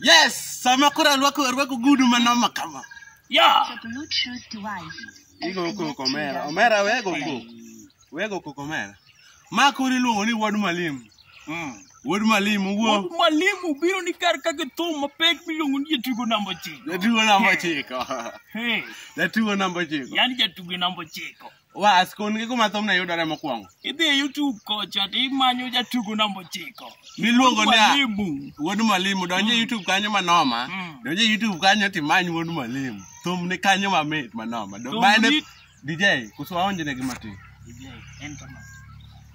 Yes, sama koro arwako arwako gudu manoma kama. Yeah. Bluetooth device. Igo koko omera. Omera wego koko. Wego koko omera. Ma koro iluongo ni wod malim. Mm. Wod malim wuo. Wuod mwalimu biro ni kar ka githum mapek miluongo ni jatugo namba ochiko. Jatugo namba ochiko. Hey, Jatugo namba ochiko. yani jatugo namba ochiko. Was, kon gi kuma thumne yudore mokwongo. Idhi e YouTube kocha to imanyo jatugo namba ochiko. Miluongo ni a- Mwalimu. Wuod Mwalimu, donj e YouTube kanyo manoma. Mm. Donj e YouTube kanyo timany Wuod Mwalimu. Thum ni kanyo mamit manoma. Do- Thum ma en e- ni- DJ, kusu waonjne gi matin. Ijai, en kama.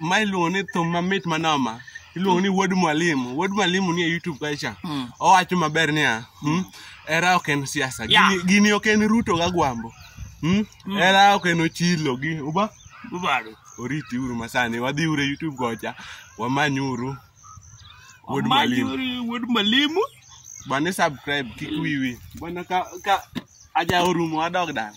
ma iluongo ni thum mamit manoma iluongo ni wuod mwalimu wuod mwalimu ni e youtube kacha Mm. owacho maber niya hmm, era ok en siasa Yeah. Gini- gini ok en ruto ga gwambo hmm? era ok en ochilo gi uba Ubaro. oriti uru masani wadhi uru e youtube kocha wamany uru wuod mwalimu Amanyuri wuod mwalimu. bane subscribe kik wiwi bana ka, ka aja orumo adog dala